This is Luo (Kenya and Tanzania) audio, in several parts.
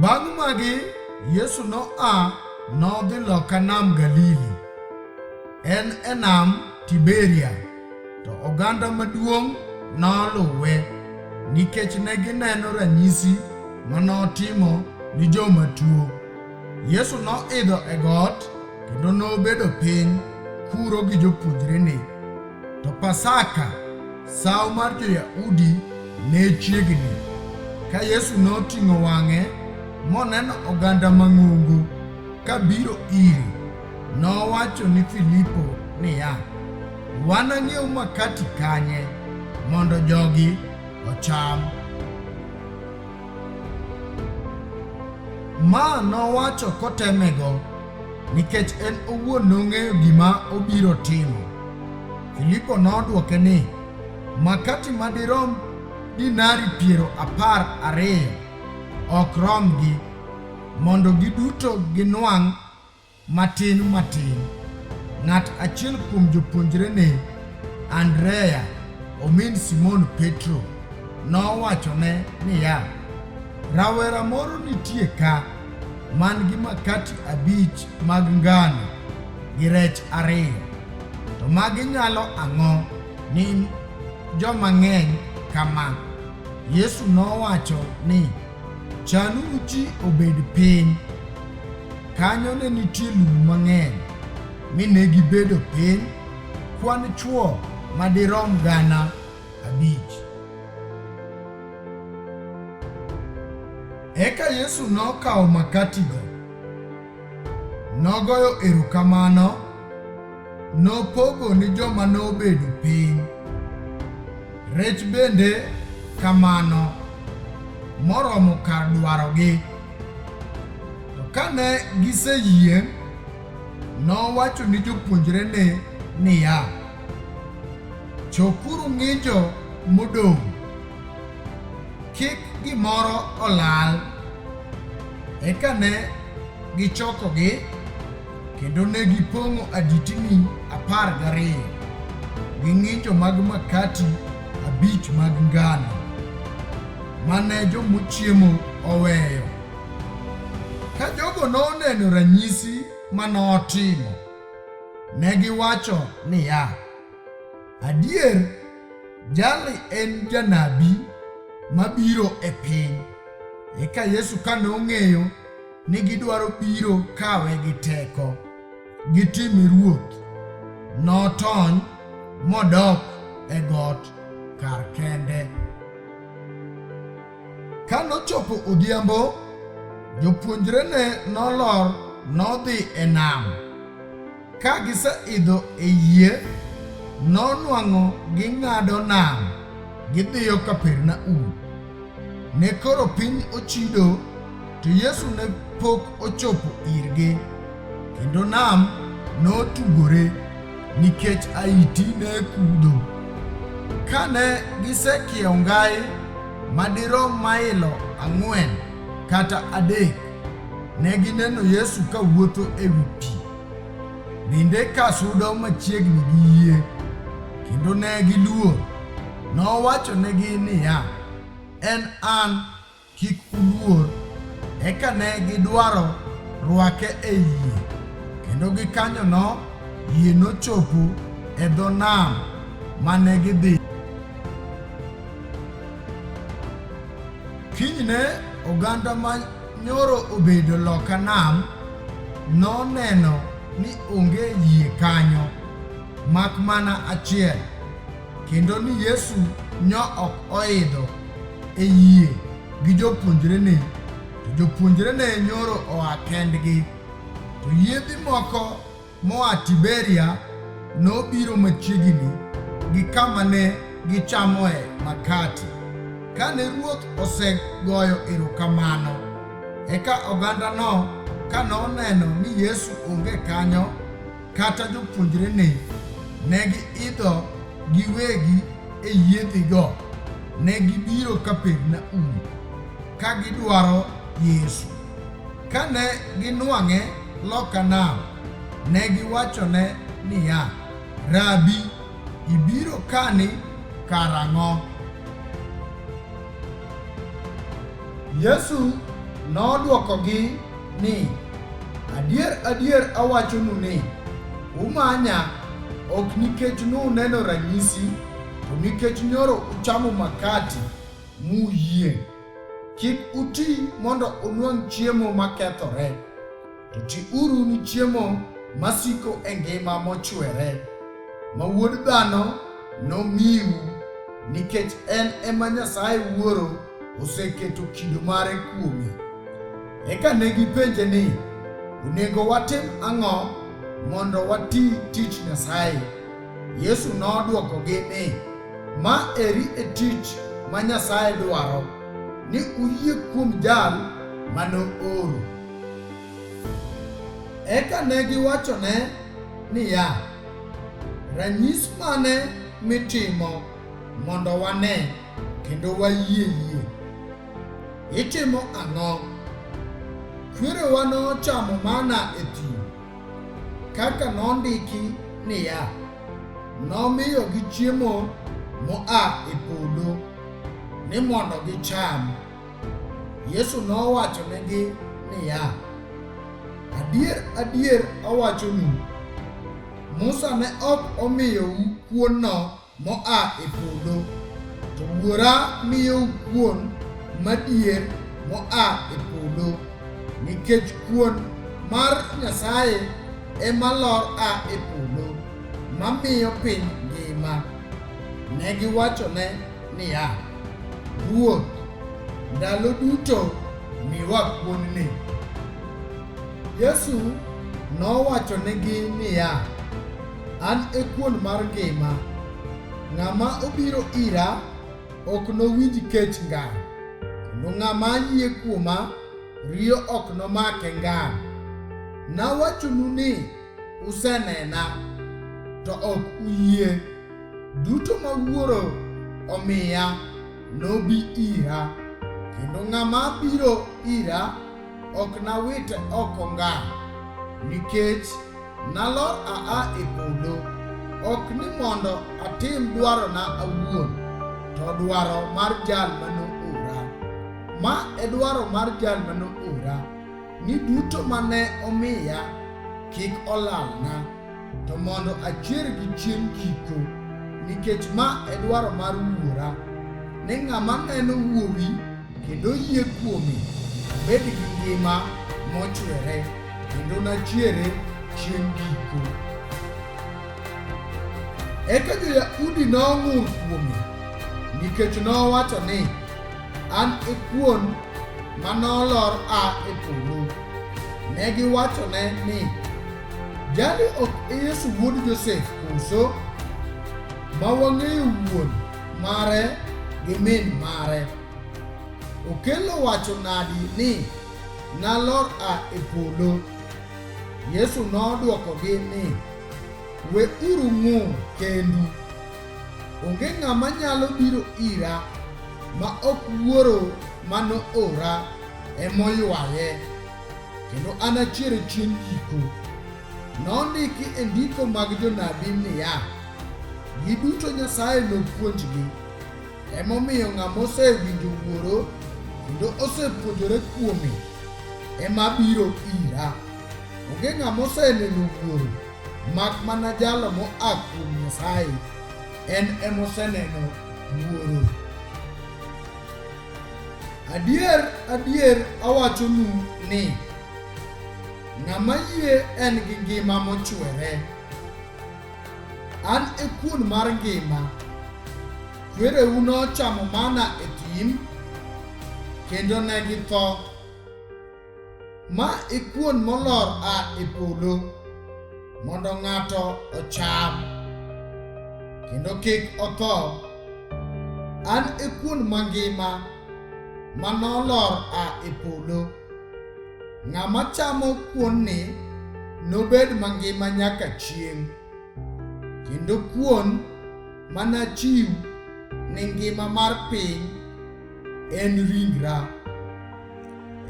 Bang' magi, Yesu noa nodhi loka nam Galili. En e nam Tiberia, to oganda maduong' noluwe nikech ne gineno ranyisi ma notimo ni joma tuo. Yesu noidho e got kendo nobedo piny kuro gi jopuonjrene. To Pasaka, sawo mar Jo-Yahudi ne chiegni. Ka Yesu noting'o wang'e moneno oganda mang'ongo ka biro ire, nowacho ni Filipo niya, Wanang'iew makati kanye mondo jogi ocham? Ma nowacho kotemego. nikech en owuon nong'eyo gima obiro timo. Filipo nodwoke ni, Makati madirom dinari piero apar ariyo ok romgi, mondo giduto ginwang' matin matin. Ng'at achiel kuom jopuonjrene, Andrea, omin Simon Petro, nowachone niya, Rawera moro nitie ka man gi makati abich mag ngano gi rech ariyo. To magi nyalo ang'o ni joma ng'eny kama? Yesu nowacho ni, Chanu uchi obed piny. Kanyo ne nitie lum mang'eny, mi ne gibedo piny kwan chwo madirom gana abich. Eka Yesu nokawo makatigo, nogoyo erokamano, nopogo ni joma nobedo piny, rech bende kamano, moromo kar dwarogi. To kane giseyieng', nowacho ni jopuonjrene niya, Chokuru ng'injo modong' kik gimoro olal. Eka ne gichokogi kendo ne gipong'o aditini apar gariyo gi ng'injo mag makati abich mag ngano mane jomochiemo oweyo. Ka jogo noneno ranyisi ma notimo, ne giwacho niya, Adier, jali en janabi mabiro e piny. Eka Yesu ka nong'eyo ni gidwaro biro kawe gi teko, gitime ruoth, notony modok e got kar kende. Ka nochopo odhiambo, jopuonjrene nolor nodhi e nam. Ka giseidho e yie, nonwang'o ging'ado nam gidhiyo Kapernaum. Ne koro piny ochido, to Yesu ne pok ochopo irgi, kendo nam notugore nikech aiti ne kudho. Kane gisekiewo ngai madirom mailo ang'wen kata adek, ne gineno Yesu kawuotho e wi pi. Bende ka sudo machiegni gi yie, kendo ne giluor, nowachonegi niya, En an, kik uluor. Eka ne gidwaro rwake e yie, kendo gikanyono yie nochopo e dho nam mane gidhi. Kinyne oganda ma Nyoro obedo loka nam noneno ni onge yie kanyo mak mana achiel kendo ni Yesu nyo ok oidho e yie gi jopuonjrene to jopuonjrene nyoro oa kendgi to yiedhi moko moa Tiberia nobiro machiegini gi kama ne gichamoe makati. Kane ruoth osegoyo erokamano, eka ogandano kane oneno ni Yesu onge kanyo kata jopuonjrene, ne giidho giwegi e yiedhigo, ne gibiro Kapernaum ka gidwaro Yesu. Kane ginwang'e loka nam, ne giwachone niya, Rabi, ibiro kani karang'o? Yesu nodwokogi ni, Adier, adier awachonu ni, umanya ok nikech nuneno ranyisi, to nikech nyoro uchamo makati muyieng'. Kik uti mondo unwang' chiemo makethore, to tiuru ni chiemo masiko e ngima mochwere, ma Wuod Dhano nomiu, nikech en ema Nyasaye Wuoro oseketo kido mare kuome. Eka ne gipenje ni, Onego watim ang'o mondo wati tich Nyasaye? Yesu nodwokogi ni, Ma eri e tich ma Nyasaye dwaro, ni uyie kuom jal ma nooro. Eka ne giwachone niya, Ranyis mane mitimo mondo wane kendo wayie yie? Itimo ang'o? Kwerewa nochamo mana e thim Kaka nondiki niya, nomiyogi chiemo moa e polo ni mondo gicham. Yesu nowachonegi niya, Adier, adier awachonu, Musa ne ok omiyou kuonno Moa e polo, to Wuora miyou kuon madier moa e polo, nikech kuon mar Nyasaye ema lor a e polo, mamiyo piny ngima. Ne giwachone niya, Ruoth, ndalo duto miwa kuonni. Yesu nowachonegi niya, An e kuon mar ngima. Ng'ama obiro ira ok nowinj kech ngang', kendo ng'ama yie kuoma riyo ok nomake ngang'. Nawachonu ni usenena, to ok uyie. Duto ma Wuoro omiya nobi ira, kendo ng'ama biro ira ok nawite oko ngang', nikech nalor aa e polo, ok ni mondo atim dwarona awuon, to dwaro mar jal ma noora. Ma e dwaro mar jal ma noora, ni duto ma ne omiya kik olalna, to mondo achiergi chieng' giko, nikech ma e dwaro mar Wuora, ni ng'ama neno Wuowi kendo yie kuome obed gi ngima mochwere kendo nachiere chieng' giko. Eka jo-Yahudi nong'ur kuome nikech nowacho ni, An e kuon ma nolor a e polo. Ne giwachone ni, Jali ok e Yesu wuod Josef koso? Ma wang'eyo wuon mare gi min mare. Okello wacho nadi ni, Nalor a e polo? Yesu nodwokogi ni, We uru ng'ur kendu. Onge ng'ama nyalo biro ira ma ok wuoro ma noora emoywaye, kendo anachiere chieng' giko. Nondiki e ndiko mag jonabi niya, Giduto Nyasaye nopuonjgi. Emomiyo ng'ama osewinjo Wuoro kendo osepuonjore kuome ema biro ira. Onge ng'ama oseneno Wuoro mak mana jalo moa kuom Nyasaye, en emoseneno Wuoro. Adier, adier awachonu ni Ng'ama yie en gi ngima mochwere. An e kuon mar ngima. Kwereu nochamo mana e thim, kendo ne githo. Ma e kuon molor a e polo, mondo ng'ato ocham, kendo kik otho. An e kuon mangima, ma nolor a e polo. Ng'ama chamo kuonni nobed mangima nyaka chieng', kendo kuon manachiw ni ngima mar piny en ringra.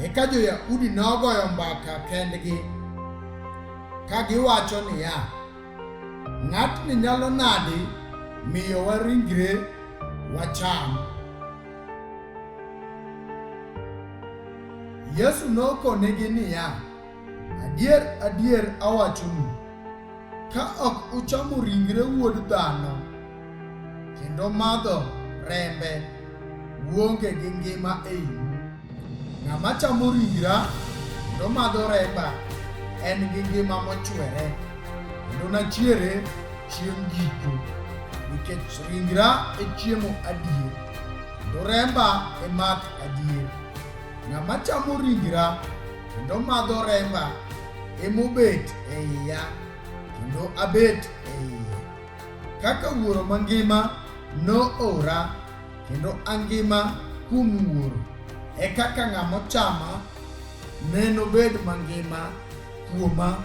Eka jo-Yahudi nogoyo mbaka kendgi ka giwacho niya, ng'atni nyalo nadi miyowa ringre wacham? Yesu nokonegi niya, Adier, adier awachonu, ka ok uchamo ringre wuod dhano kendo madho rembe, uonge gi ngima e iu. Ng'ama chamo ringra kendo madho remba en gi ngima mochwere, kendo nachiere chieng' giko, nikech ringra e chiemo adier, kendo remba e math adier. Ng'ama chamo ringra kendo madho remba emobet e iya, kendo abet e iye. Kaka Wuoro mangima noora kendo angima kuom Wuoro, e kaka ng'ama ochama ne nobed mangima kuoma.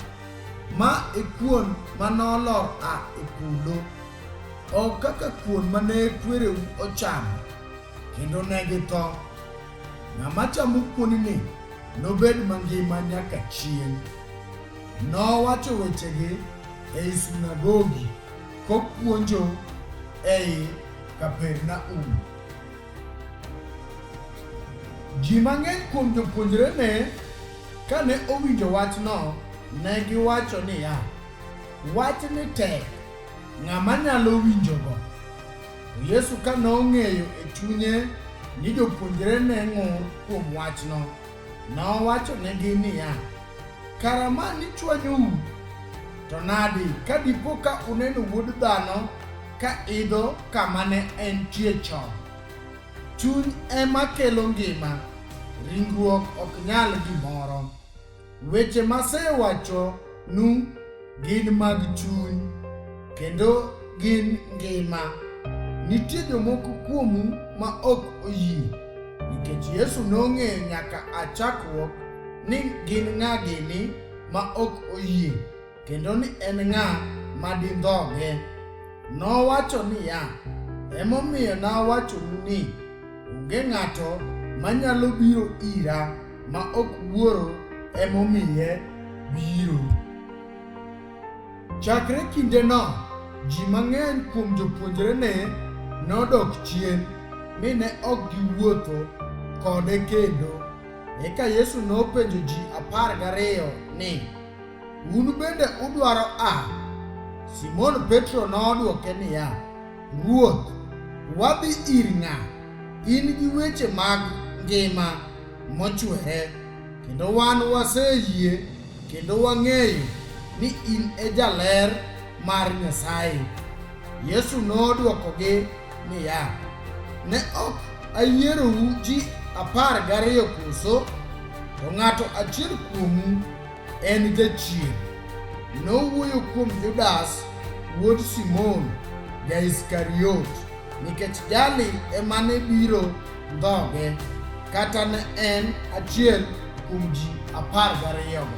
Ma e kuon ma nolor a e polo, ok kaka kuon ma ne kwereu ochamo, kendo ne githo. Ng'ama chamo kuonini nobed mangima nyaka chieng'. Nowacho wechegi ei sunagogi kopuonjo ei Kapernaum. Ji mang'eny kuom jopuonjrene kane owinjo wachno ne giwacho niya, wachni tek, ng'ama nyalo winjogo? To Yesu ka nong'eyo e chunye ni jopuonjrene ng'ur kuom wachno, Nowachonegi niya, Kara ma ni chwanyou, to nadi ka dipo ka uneno wuod dhano ka idho kama ne entie chon? Chuny ema kelo ngima, ringruok ok nyal gimoro. Weche masewachonu Gin mag chuny kendo gin ngima. Nitie jomoko kuomu ma ok oyie nikech Yesu nong'eyo nyaka a chakruok ni gin ng'a gini ma ok oyie kendo ni en ng'a ma dindhoge. Nowacho niya, Emomiyo nawachonu ni Onge ng'ato manyalo biro ira ma ok wuoro emomiye biro. Chakre kindeno, ji mang'eny kuom jopuonjrene nodok chien mi ne ok giwuotho kode kendo. Eka Yesu nopenjo ji apar gariyo ni, Un bende udwaro a? Simon Petro nodwoke niya, Ruoth, wadhi ir ng'a? In gi weche mag ngima mochwere, kendo wan waseyie kendo wang'eyo ni in e jaler mar Nyasaye. Yesu nodwokogi niya, Ne ok ayierou ji apar gariyo koso? To ng'ato achiel kuomu En jachien. Nowuoyo kuom Judas wuod Simon ja-Iskariot, nikech jali ema ne biro ndhoge, kata ne en achiel kuom ji apar gariyogo.